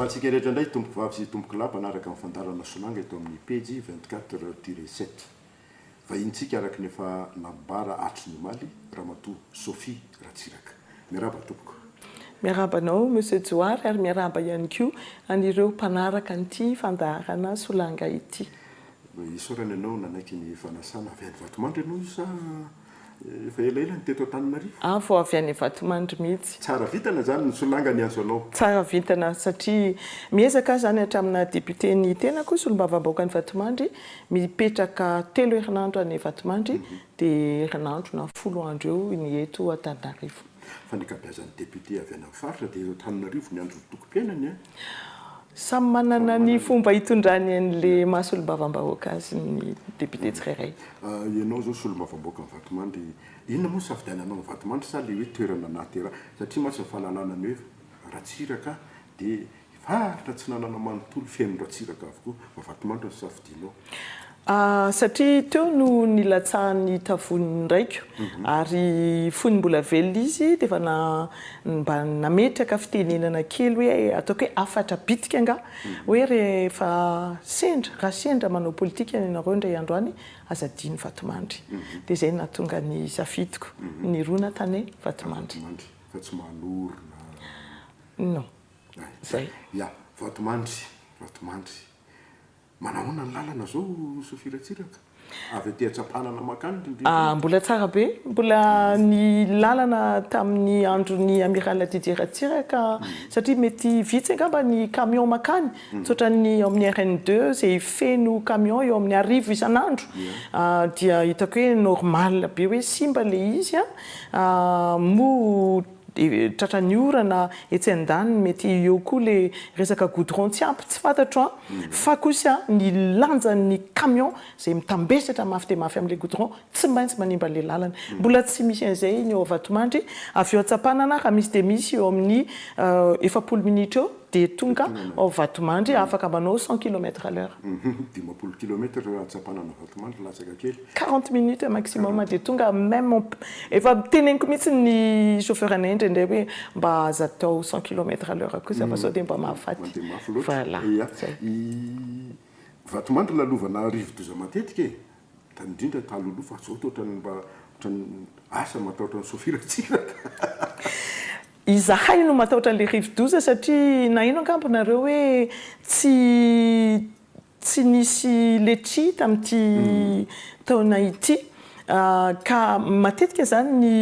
Antsika rehetra indray tompoko vavy sy tompoko lahy mpanaraka ny fandaharana solanga eto amin'ny pejy 24 tiré 7. Vahinintsika araka ny efa nambara hatry ny omaly, Ramatoa Sophie Ratsiraka. Miarahaba tompoko. Miarahaba anao Monsieur Johary ary miarahaba ihany koa an'ireo mpanaraka an'ity fandaharana Solanga ity. Isaorana ianao nanaiky ny fanasana. Avy any Vatomandry ianao io sa efa elaela no teto Antananarivo? Aho vao avy any Vatomandry mihitsy. Tsara vintana izany ny solanga niantso anao. Tsara vintana satria miezaka aho izany hatramin'ny naha député ny tenako, solombavambahoakan'i Vatomandry, mipetraka telo herinandro any Vatomandry Dia herinandro na folo andro eo ny eto Antananarivo. Fa ny ankabeazan'ny députés avy any amin'ny faritra dia eto Antananarivo miandry ny fotokom-piainany an! Samy manana ny fomba hitondrany an'ilay maha solombavambahoaka azy ny députés tsirairay. Ianao izao solombavambahoaka an'i Vatomandry, inona moa no safidiananao an'i Vatomandry sa ilay hoe toerana nahateraha? Satria mantsy ny fahalalana ny hoe Ratsiraka Dia i Faritra Atsinanana manontolo feno ratsiraka avokoa fa Vatomandry no safidianao. Ah, satria teo no nilatsahan'ny hitavon'ny raiko, ary fony mbola velona izy dia efa na, mba nametraka fitenenana kely hoe, ataoko hoe hafatra bitika angaha, hoe rehefa sendra, raha sendra manao politika ianareo indray andro any, aza adino Vatomandry. Dia izay no nahatonga ny safidiko, nirona tany Vatomandry. Vatomandry, fa tsy manorina. Non. Zay. Ya. Vatomandry. Vatomandry. Manahoana ny lalana zao Sophie Ratsiraka? Avy aty Antsampanana mankany Rindrina? Ah, mbola tsara be. Mbola ny lalana tamin'ny andron'ny Amiral Didier Ratsiraka, satria mety vitsy angamba ny camion mankany, tsy ohatran'ny ao amin'ny RN deux izay feno camion eo amin'ny arivo isan'andro. Dia hitako hoe normal be hoe simba ilay izy an. Moa Tratra ny orana etsy andaniny mety eo koa le resaka goudron tsy ampy tsy fantatro an! fa kosa ny lanjan'ny camion zay mitambesatra mafy dia mafy amle goudron tsy maintsy manimba anle lalana. Mbola tsy misy an'izay ny ao Vatomandry, avy eo Antsapanana raha misy dia misy eo amin'ny efapolo minitra eo dia tonga ao Vatomandry afaka manao cent kilomètre à l'heure. Dimampolo kilomètre eo Antsapanana Vatomandry latsaka kely Quarante minutes maximum dia tonga meme efa teneniko mihitsy ny chauffeur anay indraindray hoe mba aza atao cent kilomètre à l'heure kosa fa sao dia mba mahafaty voilà zay. Vatomandry lalovana rivodoza matetika e! Tany indrindra talohaloha fa zao toa ohatran'ny asa matahotra ny sophie Ratsiraka. Izahay no matahotra an'ilay rivodoza satria nahaino angamba nareo hoe tsy Tsy nisy letchi tamin'ity taona ity ka matetika izany ny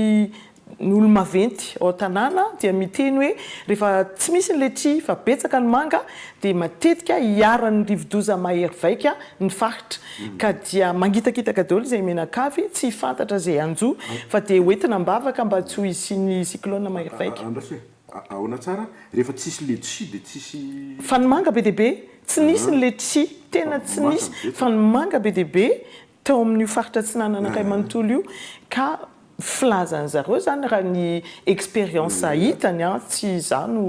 ny olo-maventy ao an-tanàna dia miteny hoe rehefa tsy misy ny letchi fa betsaka ny manga dia matetika iharan'ny rivodoza mahery vaika ny faritra ka dia mangitakitaka daholo izay menakavy tsy fantatra izay hanjo fa dia hoentina am-bavaka mba tsy ho hisian'ny cyclone mahery vaika. Ahoana tsara? Rehefa tsisy letchis dia tsisy. Fa ny manga be dia be, tsy nisy ny letchis, tena tsy nisy, fa ny manga be dia be tao amin'io faritra atsinanan'Ankay manontolo io, ka filazan'ny zareo izany raha ny expérience hitany, tsy izaho no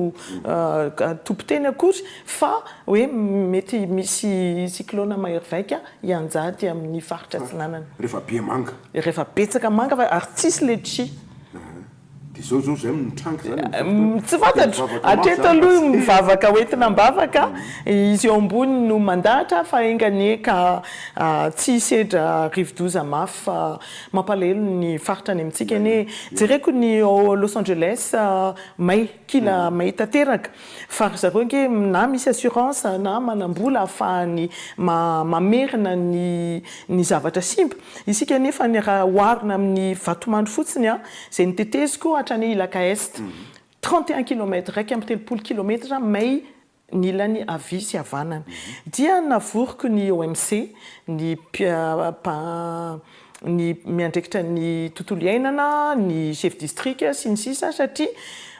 tompon-teny akory, fa hoe mety misy cyclone mahervaika hianjady amin'ny faritra atsinanana. Rehefa be manga. Rehefa betsaka manga fa ary tsisy letchis. Dia zao zao zay mitranga zany amizao fotoana. Tsy fantatro, hatreto aloha mivavaka hoentina ambavaka, izy eo ambony no mandahatra fa enga anie ka tsy hisedra rivodoza mafy fa mampalahelo ny faritra any amintsika anie e. Jereko ny ao Los Angeles may, kila may tanteraka. Fa ry zareo ange na misy assurance na manam-bola ahafahany mamerina ny zavatra simba. Isika anefa ny raha oharina amin'ny vatomandry fotsiny an, izay noteteziko hatrany Ilaka Est, trente et un kilomètre, iraika amby telopolo kilometatra may ny ilany havia sy havanana. Dia navoriko ny OMC, ny ny miandraikitra ny tontolo iainana, ny chef district sy ny sisa satria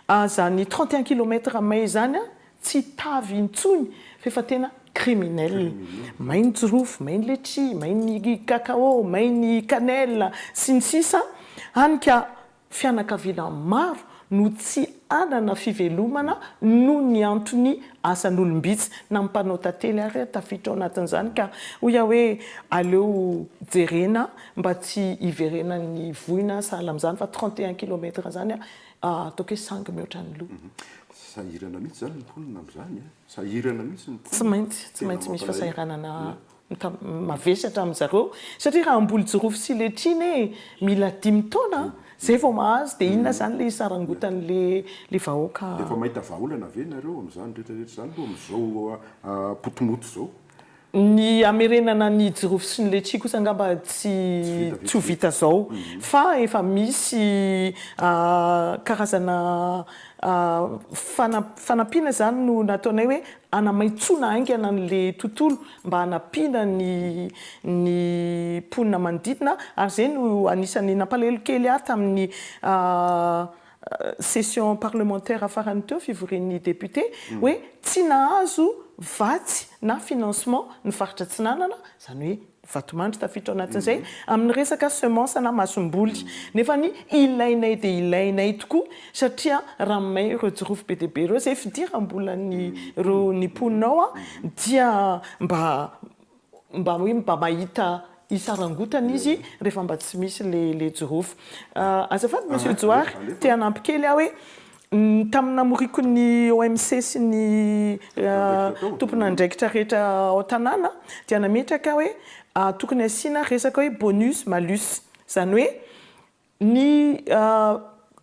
azany trente et un kilomètre mai zany tsy tavy intsony f'efa tena criminel. May ny jirofo, may ny letchis, may ny cacao, may ny cannelle sy ny sisa hany ka Fianakaviana maro no tsy hanana fivelomana noho ny antony asan'olom-bitsy, na ny mpanao tantely ary tafiditra ao anatin'izany ka hoy aho hoe aleo jerena mba tsy hiverenan'ny voina sahala amin'izany fa trente et un kilomètre izany ataoko hoe sangy mihoatra ny loha. Sahirana mihitsy izany ny mponina amin'izany an! Sahirana mihitsy ny mponina. Tsy maintsy, tsy maintsy misy fasahiranana ka mavesatra amin zareo satria raha amboly jirofo sy letchine ee mila dimy taona a zay vao mahazo dia inona zany le hisarangotan le le vahoaka Efa mahita vahaolana ve nareo amin'izany rehetra rehetra izany aloha amin'izao potimoto izao? Ny hamerenana ny jirofo sy ny letchie kosa angamba tsy tsy ho vita izao fa efa misy karazana fanampiana izany no nataonay hoe Hanamaitsoana haingana an'ilay tontolo mba hanampiana ny ny mponina manodidina ary izay no anisan'ny nampalahelo kely ahy tamin'ny session parlementaire farany teo fivorian'ny député hoe tsy nahazo vatsy na financement ny faritra Atsinanana izany hoe Vatomandry tafiditra ao anatin'izay amin'ny resaka semence na masomboly. Nefa ny ilainay dia ilainay tokoa satria raha may ireo jirofo be dia be ireo izay fidiram-bolan'ny ireo ny mponinao dia mba mba hoe mba mahita hisarangotana izy rehefa mba tsy misy ilay ilay jirofo. Azafady Monsieur Johary te hanampi-kely aho hoe Tamin'ny namoriako ny OMC sy ny tomponandraikitra rehetra ao tanàna dia nametraka aho hoe tokony asiana resaka hoe bonus malus. Izany hoe ny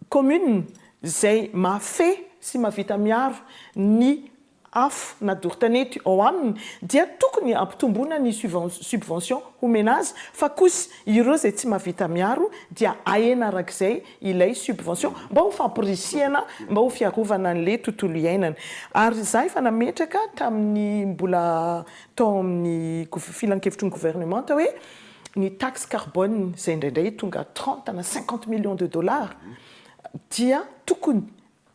commune izay mahafehy sy mahavita miaro ny afo na doro-tanety ao aminy dia tokony ampitomboina ny subvention homena azy fa kosa ireo izay tsy mahavita miaro dia ahena arak'izay ilay subvention mba ho fampirisihana mba ho fiarovana an'ilay tontolo iainana ary izaho efa nametraka tamin'ny mbola tao amin'ny filankevitry ny gouvernementa hoe ny taxe carbone izay indraindray tonga trente na cinquante millions de dollars dia tokony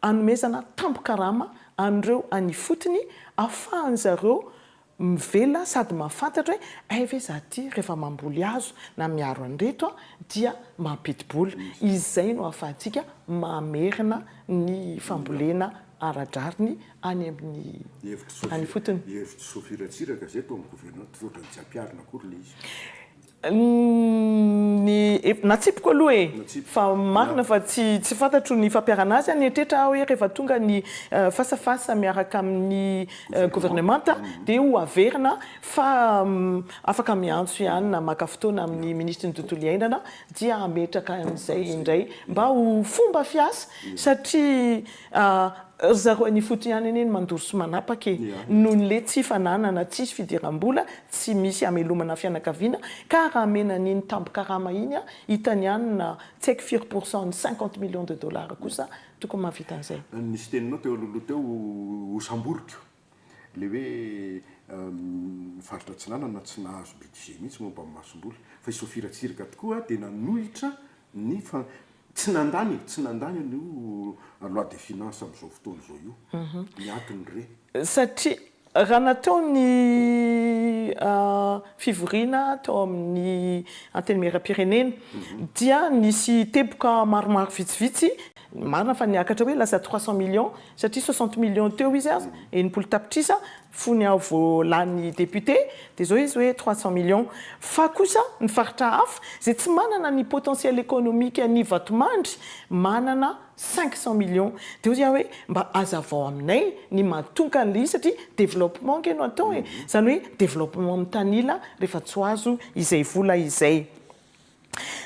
Anomezana tambin-karama an'ireo any ifotony afahan-dry zareo mivelona sady mahafantatra hoe hay ve za ty rehefa mamboly hazo na miaro an'ireto aho dia mampidi-bola. Izay no ahafahantsika mamerina ny fambolena ara-drariny any amin'ny any ifotony. Hevitsoa firatsiraka izay tao amin'ny governemanta, tsy ohatran'ny tsy ampiharina akory ilay izy. Ny natsipiko aloha e! Fa marina fa tsy tsy fantatro ny fampiharana azy any an-tretra aho hoe rehefa tonga ny face à face miaraka amin'ny governemanta dia ho averina fa afaka miantso ihany na maka fotoana amin'ny minisitry ny tontolo iainana dia hametraka an'izay indray mba ho fomba fiasa satria Ry zareo any ifotony ihany anie no mandoro sy manapaka e! Noho ny le tsy fananana, tsisy fidiram-bola, tsy misy hamelomana fianakaviana, ka raha amena an'iny tambin-karama iny an, hitany ihany na tsy haiko firy pour cent ny cinquante millions de dollars kosa tokony mahavita an'izay. Nisy teninao teo alohaloha teo ho samboriko. Ilay hoe ny faritra Atsinanana tsy nahazo budget mihitsy momba ny masomboly. Fa i Sophie Ratsiraka tokoa dia nanohitra ny fa tsy nandany e, tsy nandany an'io loi de finance amin'izao fotoana izao io. Ny antony re. Satria raha natao ny fivoriana tao amin'ny Antenimierampirenena dia nisy teboka maromaro vitsivitsy Marina fa niakatra hoe lasa trois cent millions satria soixante millions teo izy aza, enimpolo tapitrisa, fony aho vao lany député, dia izao izy hoe trois cent millions. Fa kosa ny faritra hafa izay tsy manana ny potentiel économique an'i Vatomandry manana cinq cent millions. Dia hoy aho hoe mba hazavao aminay ny mahatonka an'ilay izy satria développement ange no atao e! Izany hoe développement mitanila rehefa tsy ho azo izay vola izay.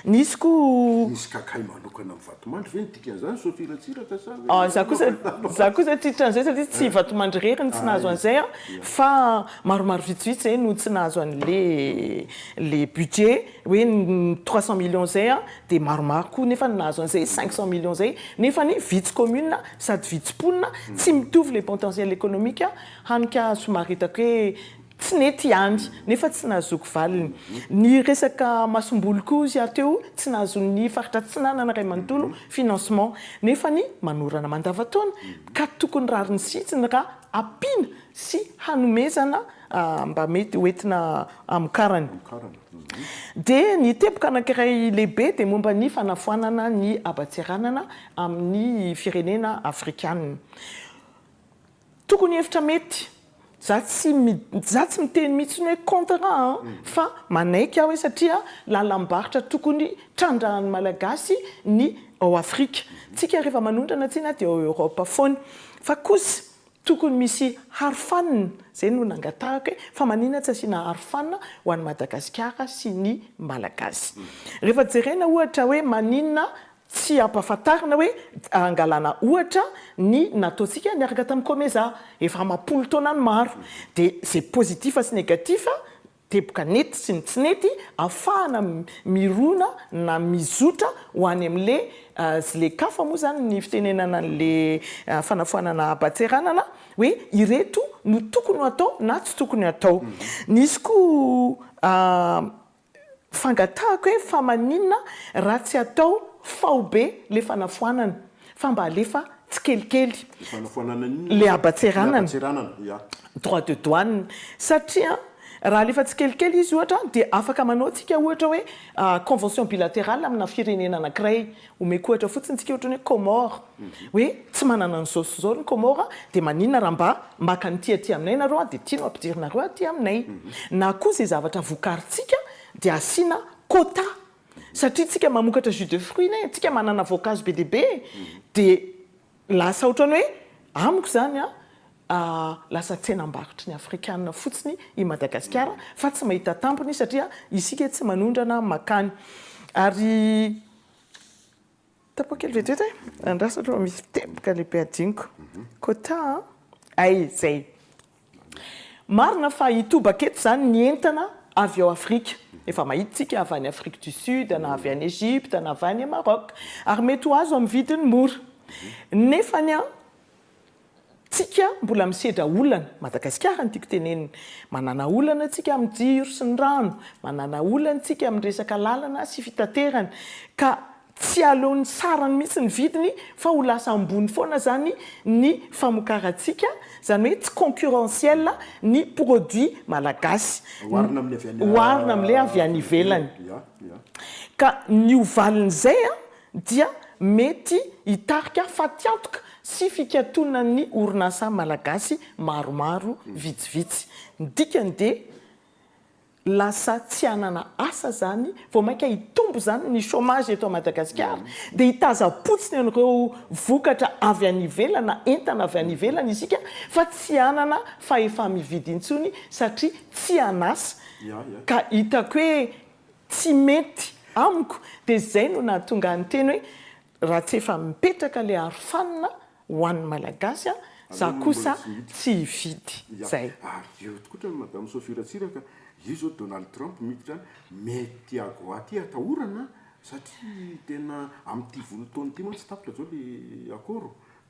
Nisy koa. Misy kakay manokana amin'ny vatomandry ve ny dikan'izany Sophie Ratsiraka sa ve? Ah, za kosa, za kosa tsy tratran'izay satria tsy vatomandry irery no tsy nahazo an'izay an, fa maromaro vitsivitsy izay no tsy nahazo an'le le budget hoe ny trois cent millions izay an, dia maromaro koa nefa no nahazo an'izay cinq cent millions izay, nefany vitsy commune sady vitsy mponina, tsy mitovy le potentiel économique, hany ka somary hitako hoe. Tsy nety ihany, nefa tsy nahazoako valiny. Ny resaka masomboly koa hozy aho teo, tsy nahazoan'ny Faritra Atsinanana iray manontolo financement, nefa ny manorana mandavantaona ka tokony rariny sitsiny raha ampiana sy hanomezana mba mety ho entina hamokarany. Dia ny teboka anankiray lehibe dia momba ny fanafoanana ny haba-tseranana amin'ny firenena Afrikanina. Tokony hevitra mety. Za tsy za tsy miteny mihitsy hoe contre a, fa manaiky aho hoe satria lalam-barotra tokony trandrahan'ny Malagasy ny ao Afrika. Tsika rehefa manondrana tsena dia ao Europe foana. Fa kosa tokony misy harofanina, zay no nangatahako hoe fa manina tsy asiana harofanina ho an'i Madagasikara sy ny Malagasy. Rehefa jerena ohatra hoe manina Tsy ampahafantarina hoe hangalana ohatra ny nataontsika niaraka tamin'ny Comeza efa amam-polo taona any maro. Dia izay positif sy négatif, teboka nety sy ny tsy nety, afahana mirona na mizotra ho any amin'ilay Zlekafa moa izany ny fitenenana an'ilay fanafoanana haban-tseranana hoe ireto no tokony ho atao na tsy tokony ho atao. Nisy koa Fangatahako hoe fa maninona raha tsy atao faobe le fanafoanana fa mba alefa tsikelikely le habatseranana droit de douane satria raha alefa tsikelikely izy ohatra dia afaka manao tsika ohatra hoe convention bilaterale amina firenena anakiray Omeko ohatra fotsiny tsika ohatry ny hoe Comores, hoe tsy manana an'izao sy izao ny Comores dia maninona raha mba maka an'ity aty aminay nareo dia ity no ampidirinareo aty aminay. Na koa izay zavatra vokarintsika dia asiana quota. Satria tsika mamokatra jus de fruits ne, tsika manana voankazo be dia be dia Lasa ohatran'ny hoe, amiko izany an, lasa tsenam-barotry ny afrikana fotsiny i Madagasikara fa tsy mahita tampony satria isika tsy manondrana makany. Ary tapao kely vetivety e! Andraso aloha misy teboka lehibe hadinoko. Quota an! Hay izay! Marina fa hitobaka eto izany ny entana avy ao Afrika. Efa mahita isika avy any Afrique du Sud, na avy any Egypte, na avy any Maroc. Ary mety ho azo amin'ny vidiny mora. Nefa ny an, tsika mbola misedra olana. Madagasikara no tiako tenenina. Manana olana tsika amin'ny jiro sy ny rano. Manana olana tsika amin'ny resaka lalana sy fitaterana. Ka Tsy aleon'ny sarany mihitsy ny vidiny fa ho lasa ambony foana izany ny famokarantsika, izany hoe tsy concurrentiel ny produit malagasy, oharina amin'ilay avy any ivelany. Ka ny ho valin'izay dia mety hitarika fatiantoka sy fikatonan'ny orinasa malagasy maromaro vitsivitsy. Ny dikany dia. lasa tsy hanana asa zany, vao mainka hitombo zany ny chômage eto Madagasikara, dia hitazam-potsiny an'ireo vokatra avy any ivelana, entana avy any ivelany isika, fa tsy hanana fahefa-mividy intsony satria tsy han'asa, ka hitako hoe tsy mety amiko, dia zay no nahatonga ahy niteny hoe Raha tsy efa mipetraka le arofanina ho an'ny malagasy za kosa tsy hividy. Zay. Ary eo koa otrany madame Sophie Ratsiraka io zao Donald Trump miditra any mety agoa ty atahorana satria tena amin'ity volo taony ity mantsy tapitra zao le akôro.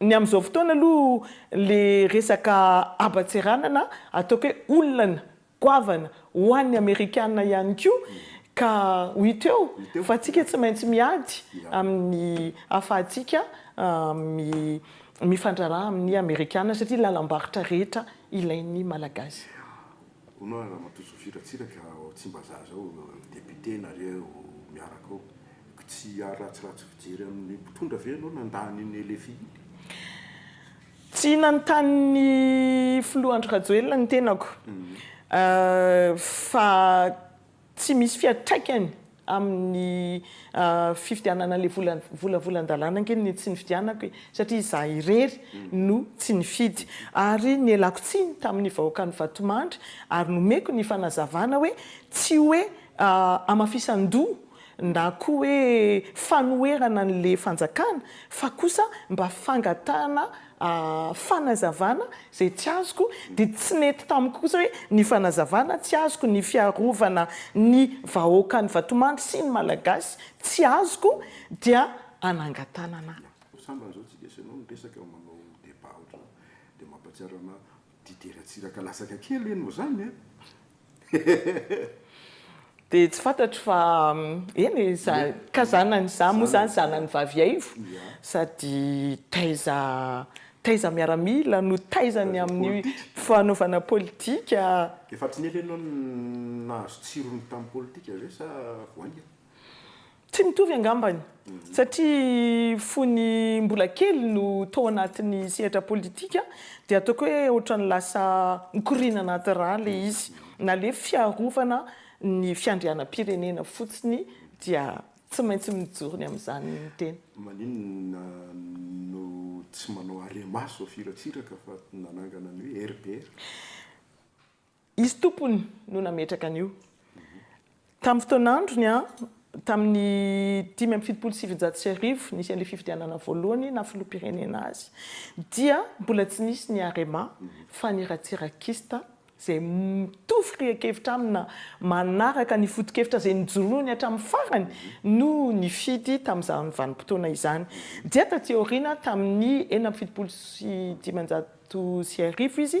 Ny amin'izao fotoana aloha le resaka haban-tseranana ataoko hoe olana goavana ho an'ny amerikana ihany koa ka ho hita eo fa antsika tsy maintsy miady amin'ny ahafahantsika mifandraraha amin'ny amerikana satria lalam-barotra rehetra ilain'ny malagasy. Hono ary Ramatoa Sophie Ratsiraka ao Tsimbazaza ao ny député nareo miaraka ao ko tsy hiaro ratsiratsy fijery amin'ny mpitondra ve ianao nandà an'iny LFI iny? Tsy nanontany ny Filoha Andry Rajoelina ny tenako fa Tsy misy fiantraikany amin'ny fividianana an'ilay vola vola volan-dalàna ange ny tsy nividianako e! satria izaho irery no tsy nifidy ary nialako tsiny tamin'ny vahoakan'i Vatomandry ary nomeko ny fanazavana hoe tsy hoe hamafisan-doha na koa hoe fanoherana an'ilay fanjakana fa kosa mba fangatahana a fanazavana izay tsy azoko dia tsy nety tamiko kosa hoe ny fanazavana tsy azoko ny fiarovana ny vahoakan'i Vatomandry sy ny Malagasy tsy azoko dia anangatanana. Sambany zao tsy dia asaianao ny resaka manao débat ohatran'izao dia mampatsiaro ana Didier Ratsiraka latsaka kely ve no zany a? Dia tsy fantatro fa eny e, za ka zanany za moa zany zanany vavy haivo sady taiza taiza miaramila no taiza ny amin'ny fanaovana politika. Efa tsy nely ianao nahazo tsirony tamin'ny politika ve sa vao haingana? Tsy mitovy angambany, satria fony mbola kely no tao anatin'ny sehatra politika dia ataoko hoe ohatran'ny lasa mikoriana anaty rà ilay izy, na ilay fiarovana ny fiandrianam-pirenena fotsiny dia tsy maintsy mijoro ny amin'izany ny tena. Maninona no tsy manao aremaso firatsiraka fa nanangana ny hoe RBR? Izy tompony no nametraka an'io. Tamin'ny fotoan'androny, tamin'ny dimy amby fitopolo sy sivinjato sy arivo nisian'ilay fifidianana voalohany naha filoham-pirenena azy, dia mbola tsy nisy ny Arema fa ny ratsirakista izay mitovy firehan-kevitra amina, manaraka ny foto-kevitra izay nijoroany hatramin'ny farany no nifidy tamin'izany vanim-potoana izany. Dia taty aoriana, tamin'ny enina amby fitopolo sy dimanjato sy arivo izy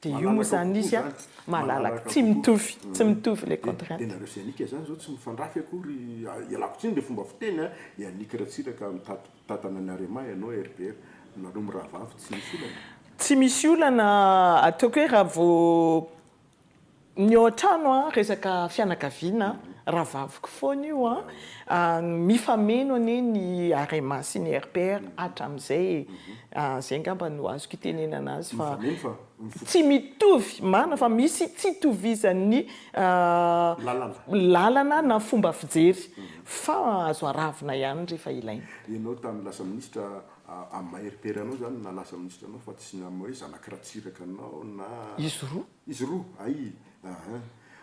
Dia io moa izany izy an, malalaka, tsy mitovy, tsy mitovy ilay contrainte. Dia nareo sy Yannick zany zao tsy mifandrafy akory, ialako tsiny le fomba fiteny an, Yannick Ratsiraka mitady mpitantana ny Arema ianao RBR, nareo mirahavavy tsy misy olana e. Tsy misy olana, ataoko hoe raha vao Ny ao an-trano a, resaka fianakaviana, rahavaviko foana io a, mifameno anie ny Arema sy ny RPR hatramin'izay e, izay angamba no azoko itenenana azy fa tsy mitovy marina fa misy tsy itovizan'ny lalana na fomba fijery fa azo aravona ihany rehefa ilaina. Ianao tamin'ny lasa minisitra amin'ny maha RPR anao izany na lasa minisitra anao fa tsy amin'ny hoe zanak'i Ratsiraka anao na. Izy roa. Izy roa, ay aah.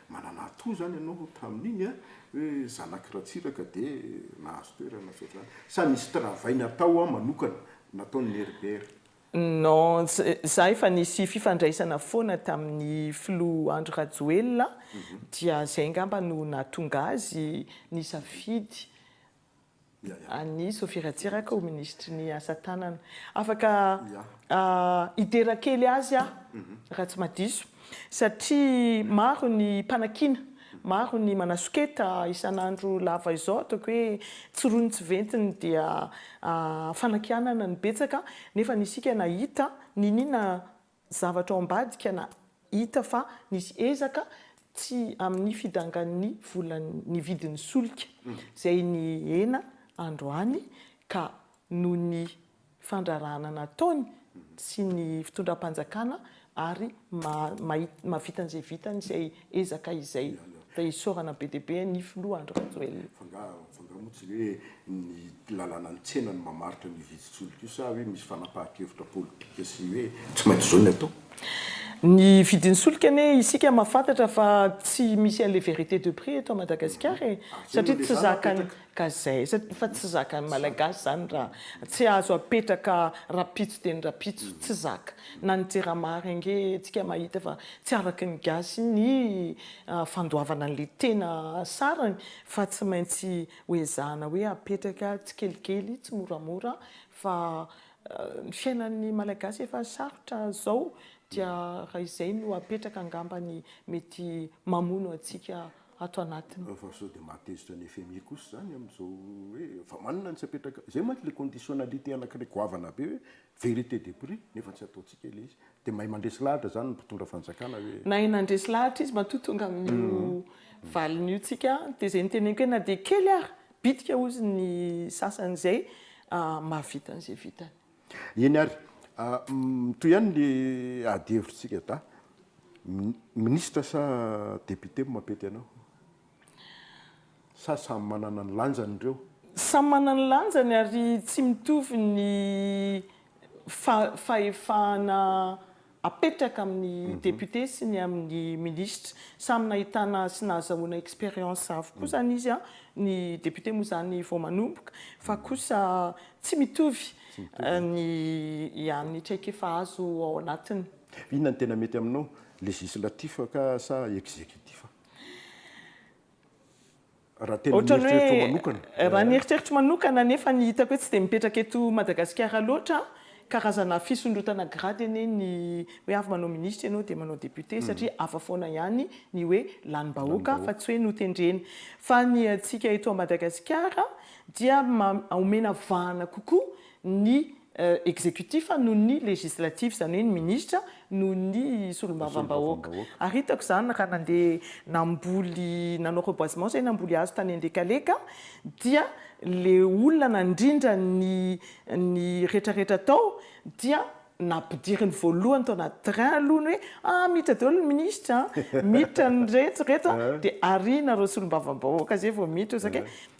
Manana atoa zany ianao tamin'iny a, hoe zanak'i Ratsiraka dia nahazo toerana sy ohatr'izany. Sa nisy travail natao an manokana nataon'i Herbert? Non, za efa nisy fifandraisana foana tamin'ny filoha Andry Rajoelina dia zay ngamba no nahatonga azy nisafidy an'i Sophie Ratsiraka ho minisitry ny asa tanana. Afaka hidera kely azy aho raha tsy madiso satria maro ny mpanakiana, maro ny manasoketa isan'andro lava izao ataoko hoe tsy rony tsy ventiny dia fanakianana no betsaka nefa ny isika nahita niniana Zavatra ao ambadika na hita fa nisy ezaka tsy amin'ny fidangan'ny volan'ny vidin'ny solika izay nihena androany ka noho ny fandrarahana nataony sy ny fitondram-panjakana ary mahavita an'izay vitany izay ezaka izay dia isaorana be dia be ny filoha Andry Rajoelina. Fa nga fa nga moa tsy hoe ny lalàna ny tsena no mamaritra an'io vidin-tsolika io sa hoe misy fanapahan-kevitra politika sy hoe tsy maintsy izao ny atao? Ny vidin-tsolika anie isika mahafantatra fa tsy misy an'le vérité de prix eto Madagasikara e! Satria tsy zakan'ny Ka zay, fa tsy zakan'ny malagasy zany ra tsy azo apetraka rapitso dia ny rapitso tsy zaka na ny jirama ary ange tsika mahita fa tsy araky ny gasy ny fandoavana anle tena sarany fa tsy maintsy ho ezahana hoe apetraka tsikelikely tsimoramora fa ny fiainan'ny malagasy efa sarotra zao dia raha izay no apetraka angamba ny mety mamono antsika ato anatiny. Fa sao dia mahatezitra ny fmi kosa izany amin'izao hoe fa manana ny tsy apetraka, izay mantsy ilay conditionnalité anankiray goavana be hoe vérité de prix nefa tsy ataontsika ilay izy. Dia mahay mandresy lahatra izany ny mpitondra fanjakana hoe. Nahay nandresy lahatra izy matoa tonga amin'io valiny io tsika dia izay niteneniko hoe na dia kely ary bitika hozy ny sasany izay mahavita an'izay vitany. Eny ary, mitohy ihany ny ady hevitrintsika da. Minisitra sa député mo mapety anao? Sa samy manana ny lanjany ireo? Samy manana ny lanjany ary tsy mitovy ny fahefana apetraka amin'ny député sy ny amin'ny ministra. Samy nahitana sy nahazahoana expérience avokoa izany izy, ny député moa izany vao manomboka, fa kosa tsy mitovy ny an'ny traikefa azo ao anatiny. Inona no tena mety aminao, législatif ka sa exécutif? raha tena ny eritreritro manokana. Raha ny eritreritro manokana nefa ny hitako hoe tsy dia mipetraka eto Madagasikara loatra, karazana fisondrotana grade anie ny hoe avy manao ministra ianao dia manao député satria hafa foana ihany ny hoe lanim-bahoaka fa tsy hoe notendrena. Fa ny antsika eto Madagasikara dia omena vahana kokoa ny executif noho ny legislatif, izany hoe ny minisitra noho ny solombavambahoaka. Ary hitako izany raha nandeha namboly, nanao reboisement izay namboly hazo tany Andekaleka dia ilay olona nandrindra ny ny retraretra tao dia nampidiriny voalohany tao anaty train aloha ny hoe ah miditra daholo ny minisitra an! miditra ny rehetra ireto an! dia arianareo solombavambahoaka izay vao miditra, saika hoe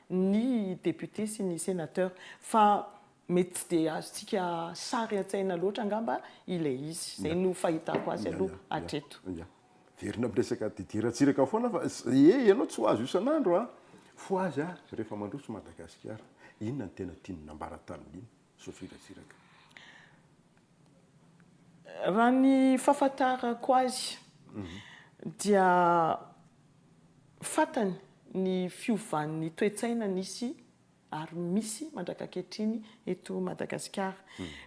ny députés sy ny sénateurs fa mety tsy dia azontsika sary an-tsaina loatra angamba ilay izy. Izay no fahitako azy aloha hatreto. Ia. Miverina amin'ny resaka Didier Ratsiraka foana fa ee ianao tsy ho azo isan'andro an! Fohaza rehefa mandroso Madagasikara. Inona no tena tian'ny nambara tamin'iny? Sofirasiraka. Raha ny fahafantarako azy dia fantany ny fiovan'ny toe-tsaina nisy ary misy mandraka ankehitriny eto Madagasikara.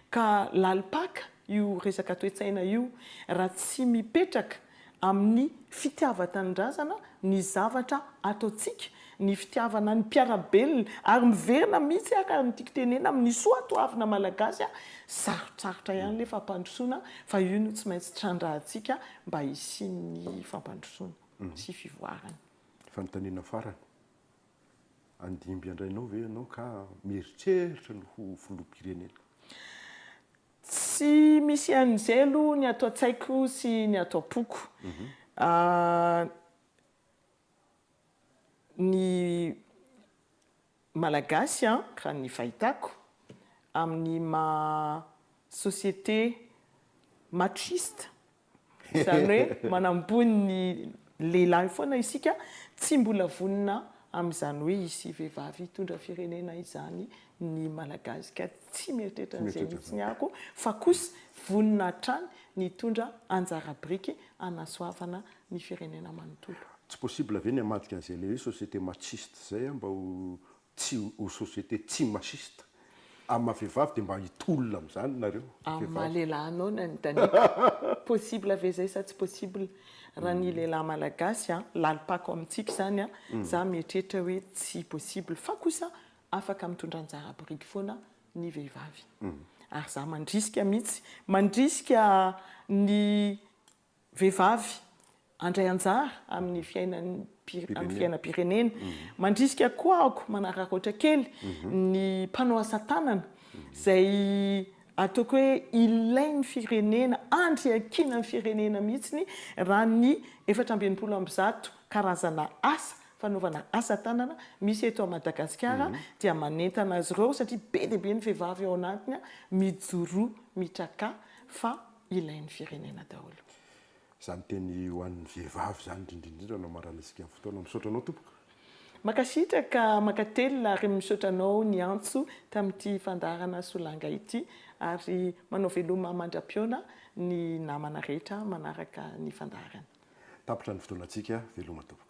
Ka lalim-paka io resaka toe-tsaina io raha tsy mipetraka amin'ny fitiavan-tanindrazana ny zavatra ataontsika, ny fitiavana ny mpiara-belona ary miverina mihitsy ary ny tiako tenena amin'ny soa toavina malagasy a! Sarotsarotra ihany ilay fampandrosoana fa io no tsy maintsy trandrahantsika mba hisian'ny fampandrosoana sy fivoarana. Fanontaniana farany, handimby andrainao ve ianao ka mieritreritra ny ho filoham-pirenena? Tsy misy an'izay aloha ny ato an-tsaiko sy ny ato am-poko. Ny Malagasy an, raha ny fahitako amin'ny maha société machiste Izany hoe manamboho ny lehilahy foana isika, tsy mbola vonona amin'izany hoe hisy vehivavy hitondra firenena izany ny Malagasy ka tsy mieritreritra an'izay mihitsy ny ako fa kosa vonona hatrany ny hitondra anjara biriky hanasoavana ny firenena manontolo. Tsy possible ve ny hamadika an'izay le hoe société machiste izay mba ho tsy ho société tsy machiste amin'ny maha vehivavy dia mba hitolona amin'izany nareo vehivavy. Amin'ny maha lehilahy anao nanontaniako. Possible ve izay sa tsy possible? Raha ny lehilahy malagasy a, lalim-pako amintsika izany a, za mieritreritra hoe tsy possible fa kosa afaka mitondra anjara boriky foana ny vehivavy. Ary za mandrisika mihitsy, mandrisika ny vehivavy handray anjara amin'ny fiainam-pirenena. Mandrisika koa aho manararaotra kely ny mpanao asa tanana izay ataoko hoe ilain'ny firenena, andry iankinan'ny firenena mihitsy raha ny efatra amby enimpolo amby zato karazana asa fanaovana asa tanana misy eto à Madagasikara dia manentana azy ireo satria be dia be ny vehivavy ao anatiny mijoroa mitrakà fa ilain'ny firenena daholo. Izany teny ho an'ny vehivavy izany indrindrindrindra no amarana isika amin'ny fotoana. Misaotra anao tompoko. Mankasitraka mankatelina ary misaotra anao niantso tamin'ity fandaharana Solanga ity ary manao veloma mandra-pihaona ny namana rehetra manaraka ny fandaharana. Tapitra ny fotoanantsika, veloma tompoko.